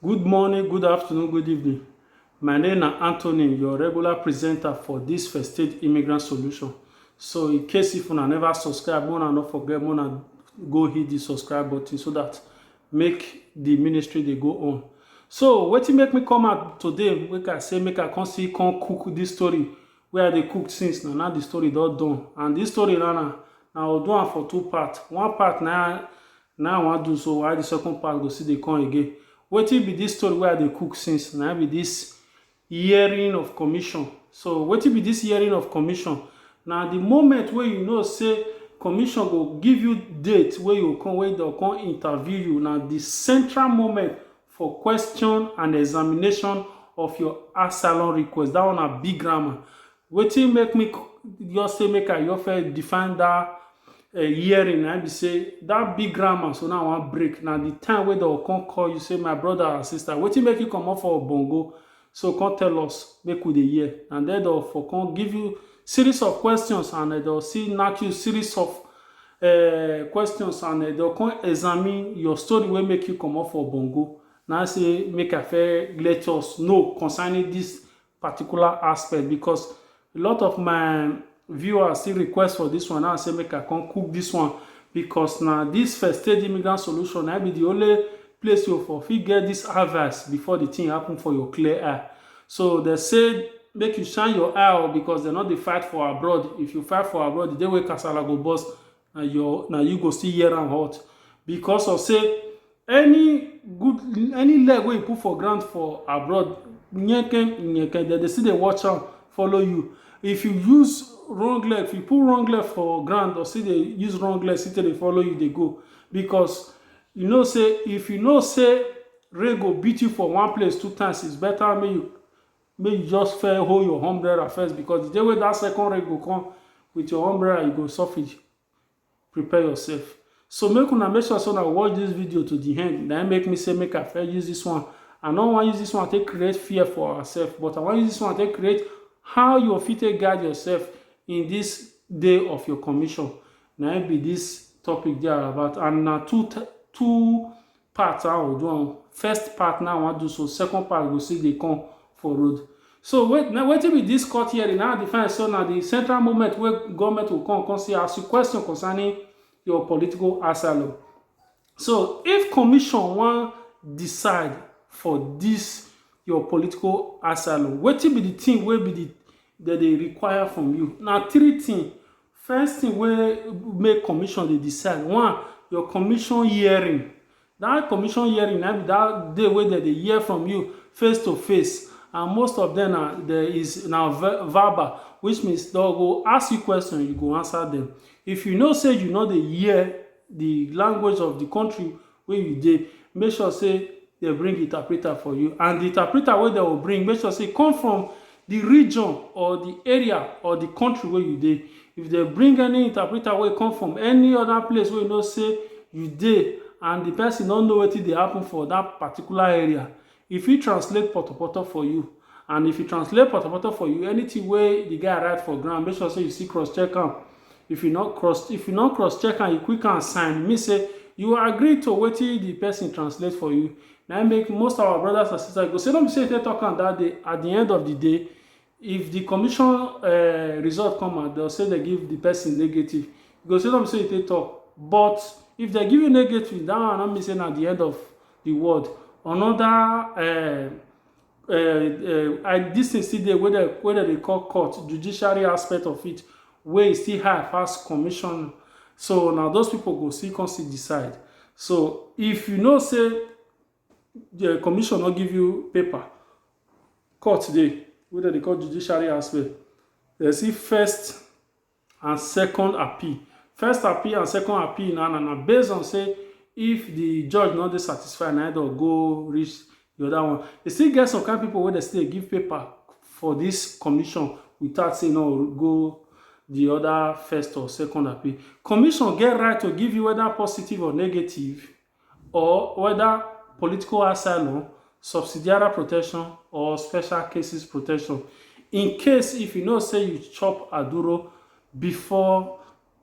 Good morning, good afternoon, good evening. My name na Anthony, your regular presenter for this First State Immigrant Solution. So in case if una never subscribe, una no forget, una go hit the subscribe button so that make the ministry dey go on. So wetin make me come out today, make I say make I come see come cook this story wey I dey cook since na na the story don done and this story now na na will do am for two part one part na na I wan do so while the second part go still dey come again wetin be this story wey I dey cook since na be this hearing of commission so wetin be this hearing of commission na the moment wey you know say commission go give you date wey you come wey dem come interview you na the central moment for question and examination of your asylum request that one na big grammar wetin make me just say make i just first define that uh, hearing na be say that big grammar so now i wan break na the time wey dem come call you say my brother and sister wetin make you comot for bongo So kon tell us make we dey hear and den dem for kon give you series of questions and den dem go still nack you series of questions and den go kon examine your story wey make you komot for bongo na im sey make I first let us know concerning dis particular aspect because a lot of my viewers still request for this one now say make i come cook this one because na this first stage immigrant solution na be the only place you for fit get this harvest before the thing happen for your clear eye so they say make you shine your eye out oh, because dem no dey fight for abroad if you fight for abroad the day wey kasala go burst na your na you go still hear am hot because of say any good any leg wey you put for ground for abroad nyeke nyeke dem dey still dey watch am follow you if you use wrong leg if you put wrong leg for ground or still dey use wrong leg still dey follow you dey go because you know say if you know say rain go beat you for one place two times it's better make you make you just fair hold your umbrella first because the day wey that second rain go come with your umbrella you go suffer prepare yourself so make una make sure say una watch this video to the end na make me say make i fair use this one i no wan use this one take create fear for ourselves but i wan use this one take create how you fit take guide yourself in this day of your commission na be this topic there about and na two two part how we do am first part now i wan do so second part go still dey come for road so wait now wetin be this court hearing now the fine so na the central movement wey government go come come see ask you question concerning your political asylum so if commission wan decide for this your political asylum wetin be the thing wey be the dem dey require from you na three things First thing wey make commission dey decide, one, your commission hearing. Dat commission hearing na im be dat day wey dem dey hear from you face to face and most of dem na there is na verbal which means dem go ask you question you go answer dem. If you know sey you no dey hear de language of de country wey you dey, make sure sey dem bring interpreter for you and di interpreter wey dem go bring, make sure sey e come from di region or di area or di country wey you dey. If dem bring any interpreter wey come from any oda place wey you know sey you dey and di pesin no know wetin dey happen for dat particular area, E fit translate potopoto for you and if e translate potopoto for you, anything wey the guy write for ground, make sure say you still cross check am. If you no cross if you no cross check am, you quick am sign, e mean say you agree to wetin the person translate for you. Na im make most of our brothers and sisters go say no be say you take talk am that day, at the end of the day, if the commission uh, result come out they'll say they give the person negative you go say them say they talk but if they give you negative that one not missing at the end of the world another uh, uh, uh, I, this thing still dey wey dem wey dem dey call court judiciary aspect of it wey still high pass commission so now those people go still come still decide so if you know say the commission no give you paper court dey wey dem dey call judiciary aspect dem see first and second appeal first appeal and second appeal na na based on say if the judge no dey satisfied na dem go reach the other one e still get some kind people wey dem still dey give paper for this commission without say no go the other first or second appeal commission get right to give you whether positive or negative or whether political asylum, subsidiary protection or special cases protection in case if you know say you chop aduro before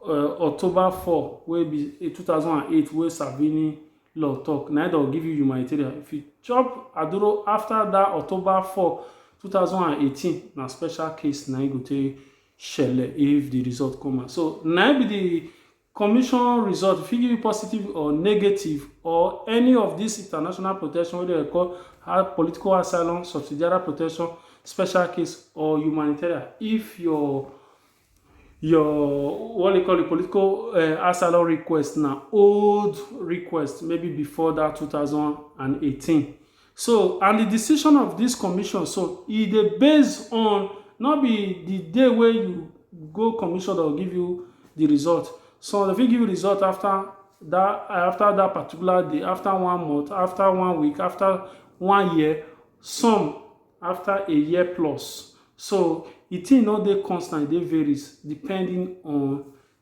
uh, October 4 wey be 2008 wey Savini law talk na dem give you humanitarian if you chop aduro after that October 4 2018 na special case na you go take shele if the result come out so na be the Commission result fit give you positive or negative or any of dis international protection wey dem call political asylum, subsidiary protection, special case or humanitarian if your your what dem call it political asylum request na old request maybe before dat two thousand and eighteen So and di decision of dis commission so e dey base on no be di day wey you go commission dem go give you di result some dem fit give you result afta dat afta dat particular day afta one month afta one week afta one year some afta a year plus so di tin no dey constant e dey varies depending on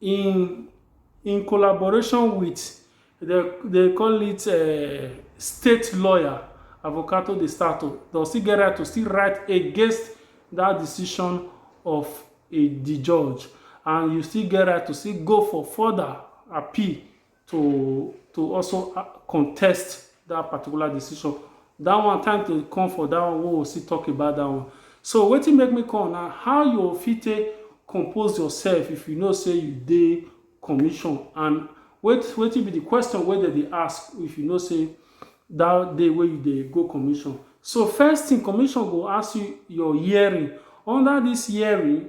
in in collaboration wit di dem call it um state lawyer Avocato de Stato dem still get right to still write against dat decision of di judge and you still get right to still go for further appeal to to also uh, contest that particular decision that one time to come for that one we will still talk about that one so wetin make me come na how you fit take compose yourself if you know say you dey commission and wait wetin be the question wey dem dey ask if you know say that day wey you dey go commission so first thing commission go ask you your hearing under this hearing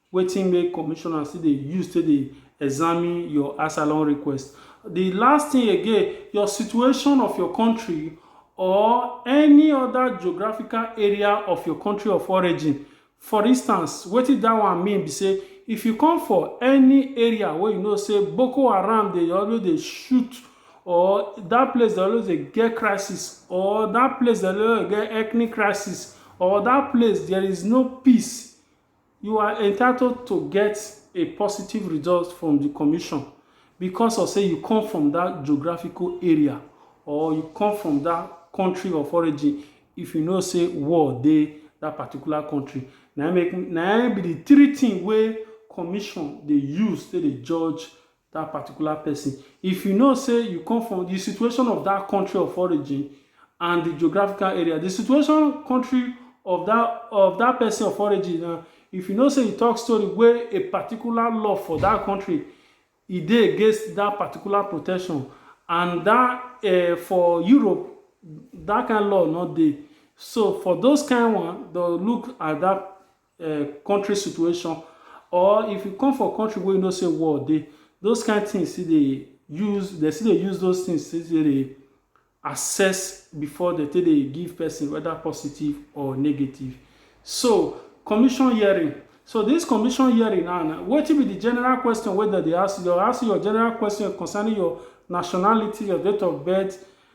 Wetin make commissioner still dey use take dey examine your asylum request? Di last tin again, your situation of your kontri or any oda geographical area of your kontri of origin. For instance, wetin dat one mean be say, if you come for any area wey you know say Boko Haram dey always dey shoot or dat place dey always dey get crisis or dat place dey always dey get ethnic crisis or dat place there is no peace, You are entitled to get a positive result from di commission because of say you come from dat geographical area or you come from dat country of origin if you know say war dey dat particular country. Na im make na im be di three thing wey commission dey use take dey judge that particular person. If you know say you come from the situation of that country of origin and the geographical area, the situation country of that of that person of origin na uh, if you know say you talk story wey a particular law for that country e dey against that particular protection and that uh, for europe that kind law no dey so for those kind one dem look at that um country situation or if you come for country wey you know say war dey, those kind things still dey use, dem still dey use those things take dey assess before dem take dey give person whether positive or negative. So commission hearing, so this commission hearing now na wetin be the general question wey dem dey ask you, dem go ask you your general question concerning your nationality, your date of birth,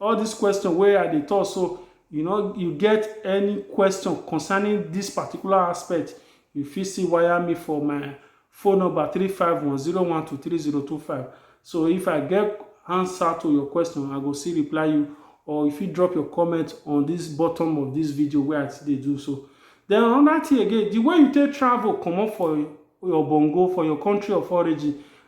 All this question wey I dey talk so, you no you get any question concerning this particular aspect, you fit still wire me for my phone number three five one zero one two three zero two five. So if I get answer to your question, I go still reply you or you fit drop your comment on this bottom of this video wey I still dey do so. Then another thing again, the way you take travel comot for your bongo, for your country of origin,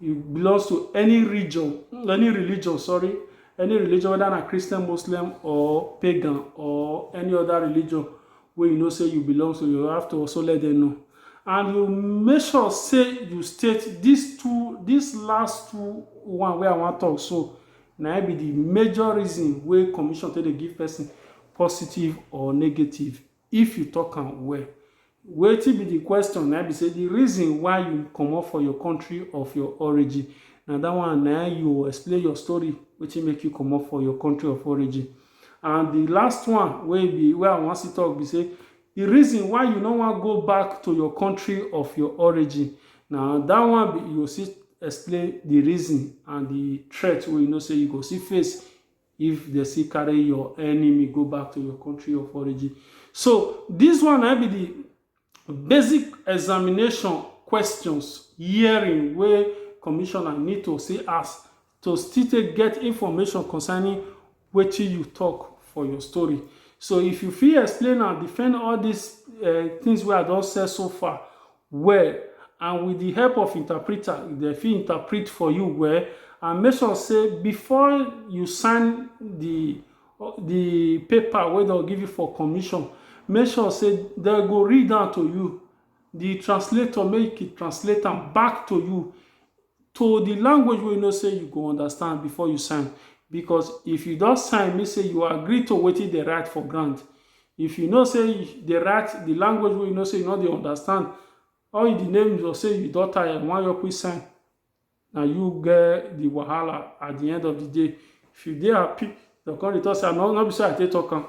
you belong to any region any religion sorry any religion whether na christian muslim or pagan or any other religion wey you know say you belong to you have to also let them know and you make sure say you state these two these last two one wey i wan talk so na im be the major reason wey commission take dey give person positive or negative if you talk am well. Wetin be the question na be say the reason why you comot for your country of your origin na that one na you explain your story wetin make you comot for your country of origin and the last one wey be wey I wan see talk be say the reason why you no wan go back to your country of your origin na that one be you go see explain the reason and the threat wey you know say you go see face If dem still carry your enemy go back to your country of origin. So dis one na im be di basic examination questions hearing wey commissioner need to still ask to still take get information concerning wetin you tok for your story. So if you fit explain and defend all dis tins wey I don say so far, well and with the help of interpreter dem fit interpret for you well and make sure say before you sign the the paper wey dem give you for commission make sure say dem go read am to you the translator make e translate am back to you to di language wey you know say you go understand before you sign because if you don sign mean say you agree to wetin dem write for ground. If you know say dey write di language wey you know say you no dey understand all you di name you go say you don tire you wan just quick sign na you get di wahala at di end of di day. If you dey happy dem go come dey talk say no be so I take talk am.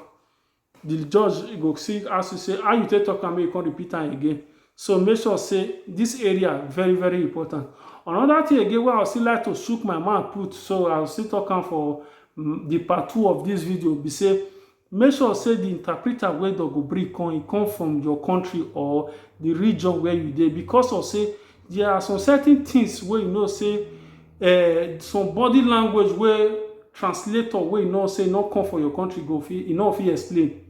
Di judge go still ask you say how you take talk am make you come repeat am again so make sure say dis area very very important. Another thing again wey I would still like to shook my mouth put so I will still talk am for di mm, part two of dis video be say make sure say di interpreter wey dem go bring come e come from your country or di region where you dey because of say There are some certain things wey you know say um some body language wey translator wey you know say e no come for your country go fit e no fit explain.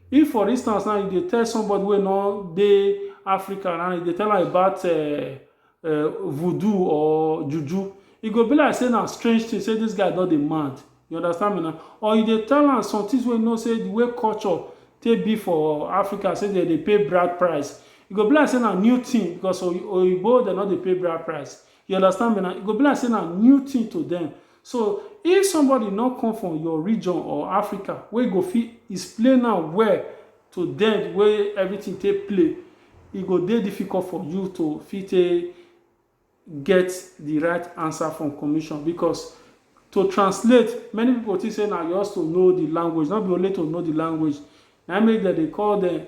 If for instance now you dey tell somebody wey no dey Africa now, you dey tell am about um voodoo or juju, e go be like say na strange thing, say this guy don dey mad. You understand me na? Or you dey tell am somethings wey you know sey the way culture take be for Africa sey dem dey pay bride price, e go be like sey na new thing because Oyinbo dem no dey pay bride price. You understand me na? E go be like sey na new thing to dem. So, if somebody no come from your region or Africa wey go fit explain am well to dem the way everything take play, e go dey difficult for you to fit take get di right ansa from commission bicos to translate many pipo tink say na just to know di language no be only to know di language na make dem dey call dem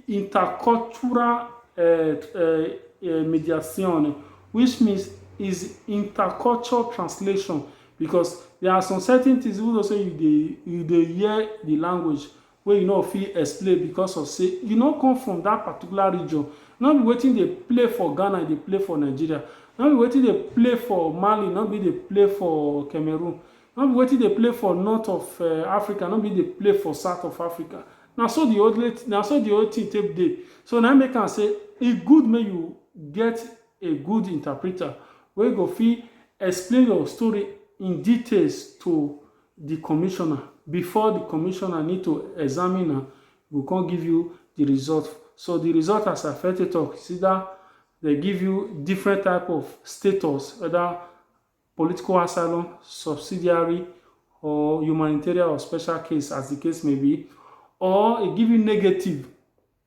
intercultural eh, eh, eh, mediation which means is intercultural translation because there are some certain things even though say you dey you dey hear the language wey you no fit explain because of say you no come from that particular region, no be wetin dey play for Ghana e dey play for Nigeria, no be wetin dey play for Mali no be e dey play for Cameroon, no be wetin dey play for north of Africa no be e dey play for south of Africa, na so the only na so the whole thing take dey, so na im make am say e good make you get a good interpreter wey go fit explain your story in details to di commissioner before di commissioner need to examine am go come give you di result so di result as affect it talk is either dem give you different type of status whether political asylum subsidiary or humanitarian or special case as di case may be or e give you negative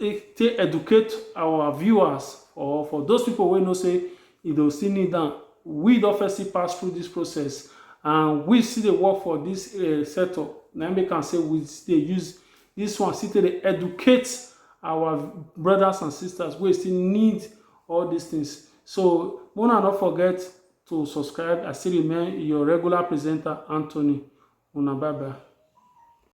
eh, take educate our viewers or for those people wey know say e dey still need down. we don first still pass through this process and we still dey work for this uh, setup na make am say we still dey use this one still dey educate our brothers and sisters wey still need all these things so una no forget to subscribe i still remain your regular presenter anthony una bye bye